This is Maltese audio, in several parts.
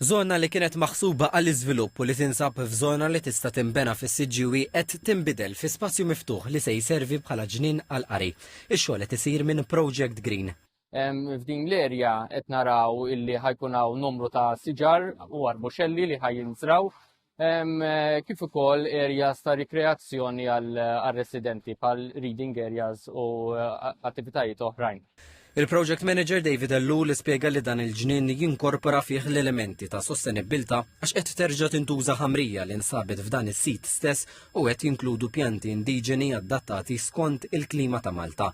Żona li kienet maħsuba għall-iżvilupp u li tinsab f'żona li tista' tinbena fis-siġġiewi qed tinbidel fi spazju miftuħ li se jservi bħala ġnien għall-qari. Ix-xogħol qed isir minn Project Green. F'din l-erja qed naraw illi ħajkun hawn numru ta' siġar u arbuxelli li ħajjinżraw kif ukoll areas ta' rikreazzjoni għal residenti pal reading areas u eh, attivitajiet oħrajn. Il-Project Manager David Ellul spjega li dan il-ġnien jinkorpora fih l-elementi ta' sostenibilità għax qed terġa' tintuża ħamrija li nsabet f'dan is-sit stess u qed jinkludu pjanti indiġeni adattati skont il-klima ta' Malta.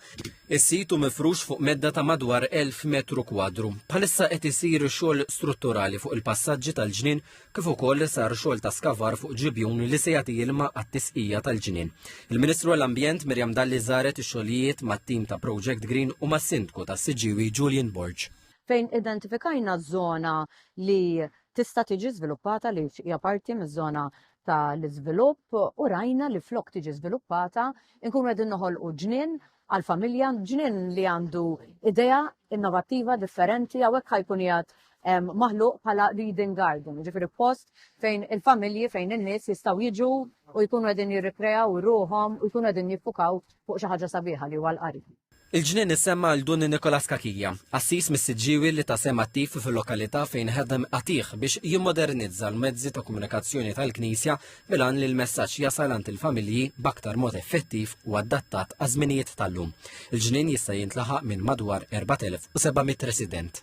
Is-sit u mifrux fuq medda ta' madwar 1000 metru kwadru. Bħalissa qed isir xogħol strutturali fuq il-passaġġi tal-ġnien kif ukoll sar xogħol ta' skavar fuq ġibjun li se jagħti ilma għat-tisqija tal-ġnien. Il-Ministru għall-Ambjent Miriam Dalli żaret ix-xogħlijiet mat-tim ta' Project Green u mas-Sindku tas-Siġġiewi Julian Borg. fejn identifikajna żona li tista' tiġi żviluppata għaliex hija parti miż-żona tal-iżvilupp u rajna li flok tiġi żviluppata nkunu qegħdin noħolqu ġnien għall-familja, ġnien li għandu idea innovattiva, differenti, għawek ħajkun jgħat maħluq bħala reading garden, ġifiri post fejn il-familji, fejn il-nis jistaw jiġu u jkunu għedin jirrikrejaw ruħom u jkunu għedin jiffukaw fuq xi ħaġa sabiħa li huwa l-qari. Il-ġnien issemma għal Dun Nikolas Kakija, assis mis-siġġiwi li ta' sem attiv fil-lokalità fejn ħedem qatiħ biex jimmodernizza l-mezzi ta' komunikazzjoni tal-Knisja bil-għan li l-messaġġ jasal għand il-familji b'aktar mod effettiv u adattat għaż-żminijiet tal-lum. Il-ġnien jista' jintlaħaq minn madwar 4,700 resident.